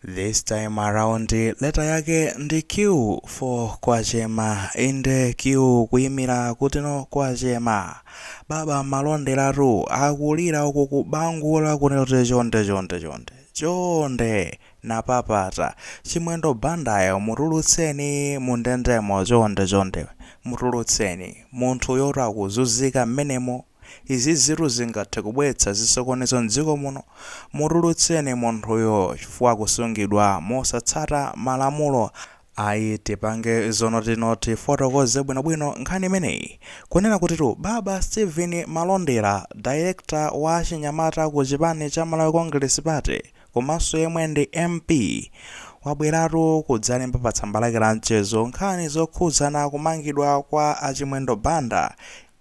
This time around letter yake ndi Q for Kwachema inde Q kuyimira kutino Kwachema baba malonderatu akulira uku kubangula kunoti chonde chonde chonde chonde napapata Chimwendo Bandayo mutulutseni mundendemo chonde chonde mutulutseni munthu yoti akuzunzika mmenemo Izizitu zingathe kubweretsa zisokonezo m'dziko muno. Mutulutseni munthuyo chifukwa akusungidwa mosatsata malamulo. Ayi tipange zonoti no tifotokoze bwinobwino nkhani imeneyi. Kunena kutitu Baba Steven Malondera, Director wa achinyamata ku chipani cha Malawi Congress Party komanso yemwe ndi MP, wabweratu kudzalemba pa tsamba lake la mchezo nkhani zokhudzana kumangidwa kwa a Chimwendo Banda,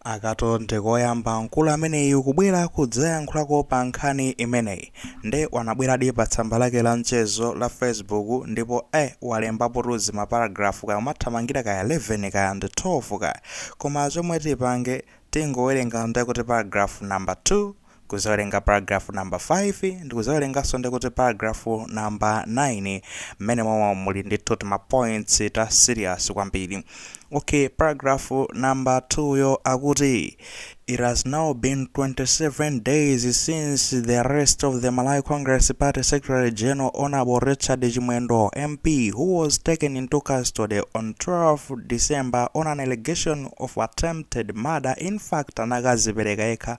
Akatu ndikoyamba mkulu ameneyu kubwera kudzayankhulako pa nkhani imeneyi nde wanabweradi pa tsamba lake la mchezo la Facebook ndipo eh walembapotu zimaparagraph kaya umathamangira kaya 11 kaya ndi 12 kaya koma chomwe tipange tingowerenga ndekuti paragraph number 2 kudzawerenga paragraph number 5 ndikudzawerenganso ndikuti paragraph number 9 mmene momwe muli ndithu tima points ta serious kwambiri okay paragraph number 2 yo akuti It has now been 27 days since the arrest of the Malawi Congress Party Secretary General Honorable Richard Chimwendo MP, who was taken into custody on 12 December on an allegation of attempted murder. In fact, anakadzipereka yekha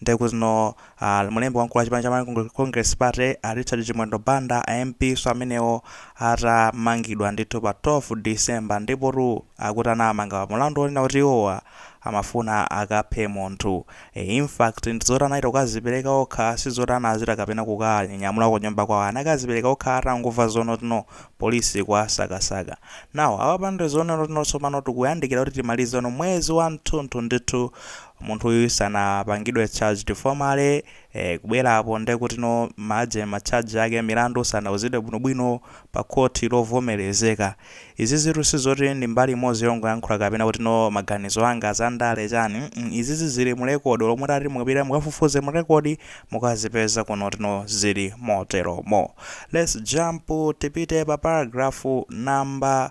Nde kuti no mlembi wamkulu wa chipani cha Malawi Congress, Congress Party a Richard Chimwendo Banda a MP so amenewo atamangidwa ndithu pa 12 December ndipotu akuti anawamanga mulandu wonena kuti iwowa amafuna akaphe munthu. E, in fact ndi zoti anachita kukadzipereka okha sizoti anachita kapena kukawanyamula kunyumba kwawo anakadzipereka okha atangomva zonoti no police ikuwasakasaka. Now apapa ndi zonena kuti no tsopano tikuyandikira kuti timalize no mwezi wamtunthu ndithu munthuyu sanapangidwe charged formally, eh kubwerapo ndekuti no macharge macharge ake milandu sanauzidwe bwinobwino pa court lovomerezeka. Izizitu sizoti ndi mbali imodzi yongoyankhula kapena kuti no maganizo anga za ndale chani mm izizi zili mu record olo mutati mupite mukafufuze mu record mukazipeza kunoti no zili moteromo. Let's jump tipite pa paragraph number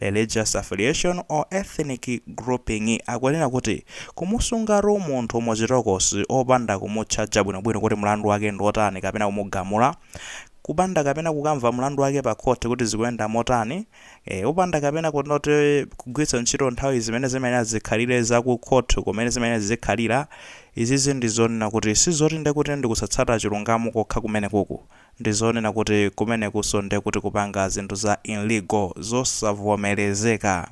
religious affiliation or ethnic grouping akunena kuti kumusungatu munthu mu chitokosi opanda kumutchaja bwinobwino kuti mlandu wake ndi otani kapena kumugamula kupanda kapena kukamva mlandu wake pa khoti kuti zikuyenda motani e, opanda kapena kunoti kugwiritsa ntchito nthawi zimene zimayenera zikhalire za ku khoti kumene zimayenera zikhalira izizi ndi zonena kuti sizoti nde kuti ndikusatsata chilungamo kokha kumene kuku Ndizonena kuti kumenekunso nde kuti kupanga zinthu za illegal, zosavomerezeka.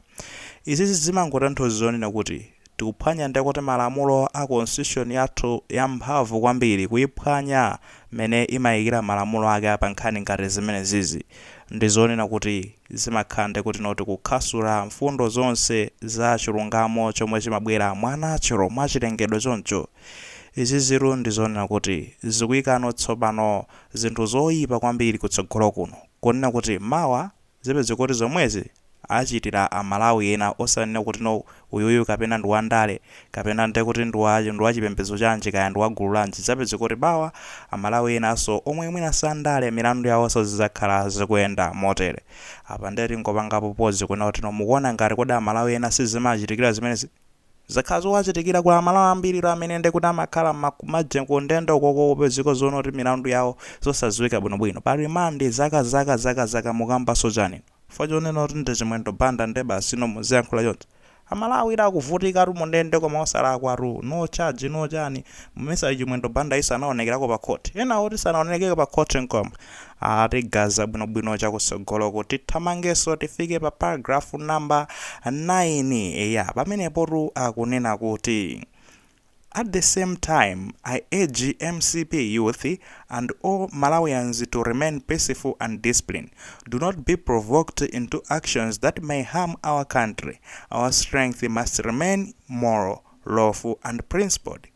Izizi zimangotanthauza zonena kuti tikuphwanya nde kuti malamulo a constitution yathu yamphamvu kwambiri kuyiphwanya mene imayikira malamulo ake pa nkhani ngati zimenezizi ndizonena kuti zimakhala nde kuti no tikukhasula mfundo zonse za chilungamo chomwe chimabwera mwa natural, mwachilengedwe choncho. Izizitu ndi zonena kuti zikuikano tsopano zinthu zoipa kwambiri kutsogolo kuno, kunena kuti mawa zipezeka kuti zomwezi achitira a Malawi ena osanena kuti no uyuyu kapena ndi wa ndale kapena nde kuti ndi wa chipembedzo chanji kaya ndi wa gulu lanji zidzapezeka kuti mawa a Malawi enanso omwe mwina si a ndale milandu yawonso zidzakhala zikuyenda motere. Apa nde tingopangapo pause kunena kuti no mukuona ngati kodi a Malawi ena sizimawachitikira zimenezi? Zakhala zowachitikira kuli amalawi ambiri tu amene nde kuti amakhala mma kumajele ku ndende ukoko kupezeka zonena kuti milandu yawo zosaziwika bwino bwino pa remand zaka zaka zaka zaka mukambanso chani inu chifukwa chonena kuti ndi chimwendo banda nde basi no muziyankhula choncho amalawi tu akuvutika tu mundende koma osalakwa tu no charge no chani mmesa chimwendo banda yi sanaonekerako pa court ena oti sanaonelekeko pa court nkoma Tigaza bwinobwino chakusogoloku tithamangeso tifike pa paragraph number 9 eya pamenepotu akunena kuti At the same time, I urge mcp youth and all Malawians to remain peaceful and discipline. Do not be provoked into actions that may harm our country. Our strength must remain moral, lawful and principled.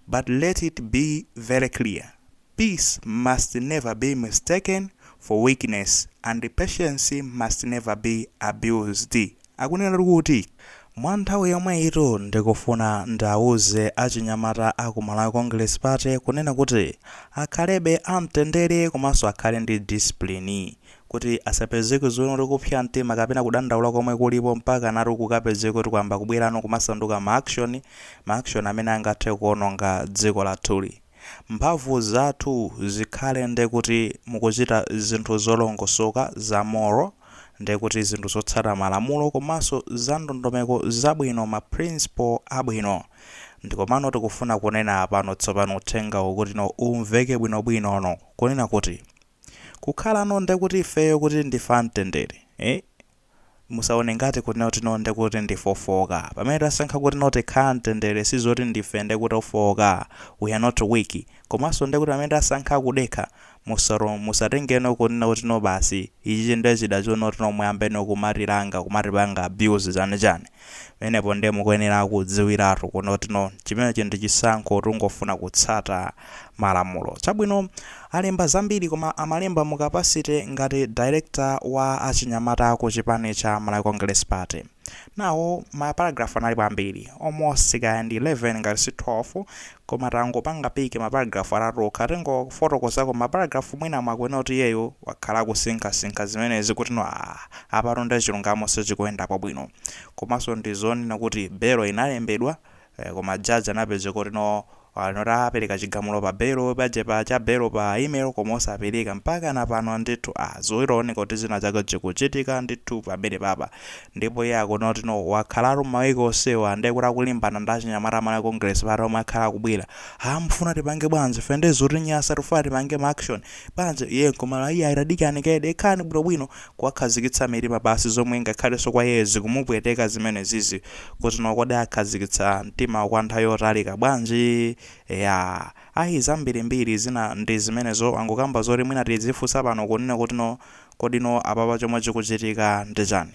But let it be very clear Peace must never be mistaken for weakness and patience must never be abused. Akunenatu kuti Mwa nthawi yomweyitu ndikufuna ndiauze achinyamata a ku Malawi Congress Party kunena kuti akhalebe a mtendere komanso akhale ndi discipline kuti asapezeke zonena kuti kupsa mtima kapena kudandaula komwe kulipo mpakanatu kukapezeke kuti kwayamba kubwerano kumasanduka ma action, ma action amene angathe kuononga dziko lathuli. Mphamvu zathu zikhale nde kuti mukuchita zinthu zolongosoka, za moral, nde kuti zinthu zotsata malamulo komanso za ndondomeko zabwino, ma principle abwino. Ndikomano tikufuna kunena apano tsopano uthenga wokuti no umveke bwino bwino no kunena kuti kukhalano nde kuti ifeyo kuti ndife a mtendere, eh? Musaone ngati kunena kuti no ndekuti ndife ofooka. Pamene tasankha kuti no tikhala mtendere sizoti ndife ndekuti ofooka, we are not weak, komanso ndekuti pamene tasankha kudekha musa musatenge no kunena kuti no basi ichichi nde chida chonena kuti no muyambe no kumatilanga kumatipanga abuse chani chani. Pamenepo ndiye mukuyenera kudziwiratu kunena kuti no, chimenecho ndi chisankho tungofuna kutsata malamulo. Chabwino, alemba zambiri koma amalemba mu capacity ngati director wa achinyamata ku chipani cha Malawi Congress Party. Now, ma paragraph analipo ambiri, almost kaya ndi 11 ngati si 12, koma tangopanga pick ma paragraph atatu okha tingofotokozako ma paragraph mwina mwakuwona kuti iyeyu wakhala akusinkha sinkha zimenezi kuti no aah apatu nde chilungamo sichikuyendapo bwino komaso ndizonena kuti belo inalembedwa eeh koma judge anapezeka kuti no ali not apeleka chigamulo pa belo paja pa ya belo pa email koma osapeleka mpakana pano ndithu aah zikuoneka kuti zina zake zikuchitika ndithu pamenepapa Ndipo iye akuona kuti no wakhalatu mmaweek onsewa nde kuti akulimbana ndi achinyamata a Malawi Congress Party omwe akhala akubwera haa mufuna tipange bwanji ife nde zikutinyasa tikufuna tipange ma action bwanji iye nkumati iyayi tadikirani kaye dekhani bwinobwino kuwakhazikitsa mitima pansi zomwe ngakhalenso kwa iyeyo zikumupweteka zimenezizi kuti no kodi akhazikitsa mtimawo kwa nthawi yotalika bwanji eya ayi zambirimbiri zina ndi zimenezo angokamba zoti mwina tidzifunsa pano kunena kuti no Kodino apapa chomwe chikuchitika ndi chani?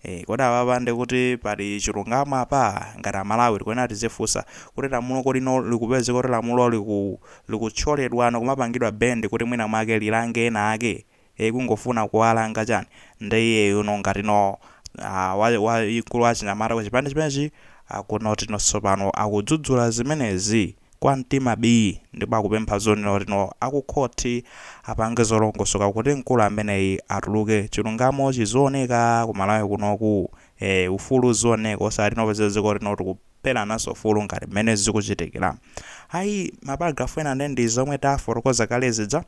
Eeh kodi apapa ndekuti pali chilungamo apa? Ngati a Malawi tikuyenera tizifunsa kuti lamulo kodino likupezeka kuti lamulo liku likuthyoledwano kumapangidwa bend kuti mwina mwake lilange ena ake? Eeh kungofuna kuwalanga chani? Nde iyeyuno ngatino aah wa wamkulu wa achinyamata ku chipani chimenechi akuona kuti no tsopano akudzudzula zimenezi. kwa mtima bii ndipo akupempha zonena kuti no akukhothi apange zolongosoka kuti mkulu ameneyi atuluke chilungamo chizioneka ku Malawi kunoku ee ufulu uzioneka osati no popeza dziko lino tikupherananso ufulu ngati mmene zikuchitikila ayi ma paragraph ena nde ndi zomwe tafotokoza kale zija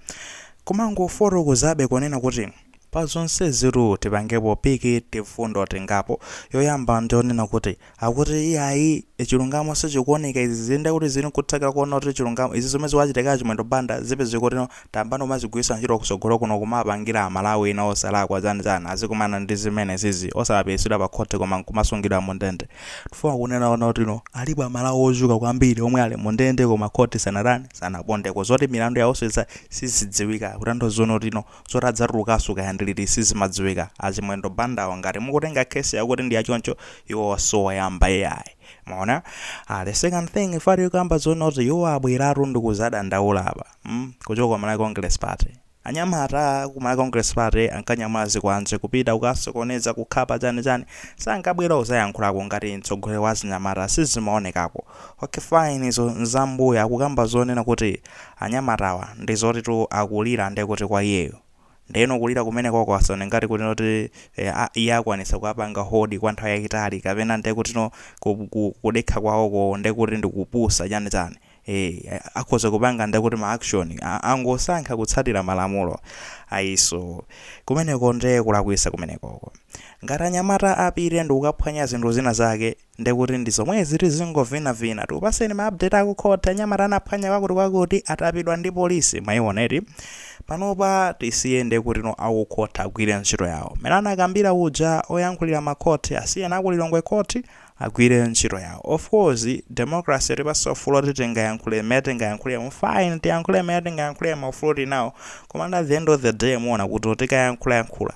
kumangofotokozabe kunena kuti Pa zonsezitu tipangepo piki tifundo tingapo. Yoyamba ndiyonena kuti, akuti iyayi chilungamo sichikuoneka izi zi nde kuti zili nkuthekera koona kuti chilungamo, izi zomwe zikuwachitika a Chimwendo Banda zipezeke kuti no, tayambano kumazigwiritsa ntchito kutsogolo kuno kumawapangira a Malawi ena osalakwa chani chani azikumana ndi zimenezizi, osakapititsidwa pa khoti koma nkumasungidwa mu ndende. Ndifuna kunena kuti no, alipo a Malawi ochuluka kwambiri omwe ali mu ndende koma khoti sanatani, sanapondeko. Zoti milandu yawo itha, sizidziwika, kutanthauza zoona kuti no, zoti adzatulukaso kaya ndi liti sizimadziwika achimwendo bandawa ngati mukutenga case yawo kuti ndi yachoncho iwowa si oyamba ai mwaona ah, the second thing ife tikukamba zoona kuti iwo abweratu ndikuzadandaula apa mm? kuchoka kwa malawi congress party anyamata ku malawi congress party ankanyamula zikwanje kupita kukasokoneza kukhapa chani chani sankabwera uzayankhulako ngati mtsogoleri wa achinyamata sizimaonekako okay fine izo nzambuya akukamba zonena kuti anyamatawa ndi zotitu akulira nde kuti kwa iyeyu. Ndeno kulira kumenekoko asaone ngati kuti no eh ah iye akwanitsa kuwapanga hold kwa nthawi yaitali kapena nde kutino ku ku kudekha kwawoko nde kuti ndi kupusa chani chani. Eh akhoza kupanga nde kuti ma action a angosankha kutsatira malamulo ayinso kumeneko nde kulakwisa kumenekoko. Ngati anyamata apite ndikukaphwanya zinthu zina zake. Ndekuti ndi zomwezi tizingovina vina. Tikupaseni ma update aku court anyamata anaphwanya kwakuti kwakuti atapidwa ndi polisi mwaiona eti. Panopa tisiye ndekutino aku court agwire ntchito yawo. Mmene anakambira uja oyankhulira ma court asiyeni aku Lilongwe court agwire ntchito yawo. Of course democracy yatipasa ufulu oti tingayankhule mmene tingayankhulemo fine tiyankhule mmene tingayankhulemo ufuluwo tilinawo. Komano at the end of the day muona kuti tikayankhula yankhula.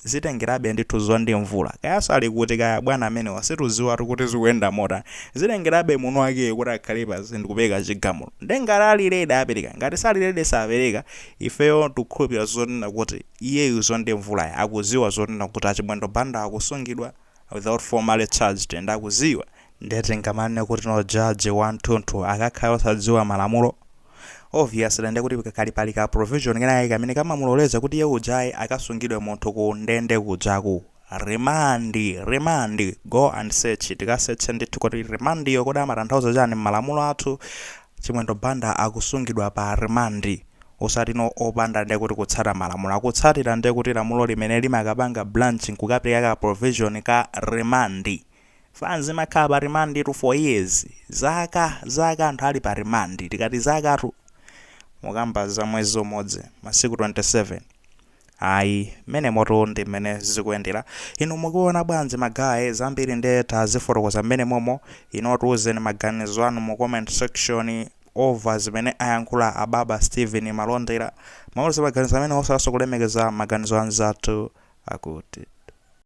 zitengerabe ndithu dzuwa ndi mvula kayaso ali kuti kaya bwana amenewa situziwatu kuti zikuyenda motani zitengerabe mwini wakeyo kuti akhale pansi ndi kupeleka chigamulo nde ngati ali ready apeleka ngati sali ready sapeleka ifeyo tikukhulupilira zonena kuti iyeyu dzuwa ndi mvulaya akuziwa zonena kuti achimwendo banda akusungidwa without formally charged and akuziwa nde tingamanene kutino judge wanthunthu akakhala osadziwa malamulo? obviously nde kuti kakhala pali ka provision kenakake kamene kamamuloleza kuti iye ujayu akasungidwe munthu ku ndende kuja ku remand remand go and search tikasearche ndithu kuti remand yo kodi amatanthauza chani mmalamulo athu Chimwendo Banda akusungidwa pa rimandi osati no opanda ndiye kuti kutsata malamulo akutsatira ndiye kuti lamulo limene limakapanga blanch nkukapeleka ka provision ka remand fans imakhala pa rimanditu for years zaka zaka anthu ali pa rimandi tikati zakatu mukamba za mwezi umodzi masiku 27 Ayi, mmenemotu ndi mmene zikuyendera. Inu mukuona bwanji magaye? Zambiri nde tazifotokoza mmenemomo. Inuo tiuzeni maganizo anu mu comment section over zimene ayankhula a Baba Steven Malondera. Mutiuze maganizo amenewo osayiwalaso kulemekeza maganizo anzathu akuti.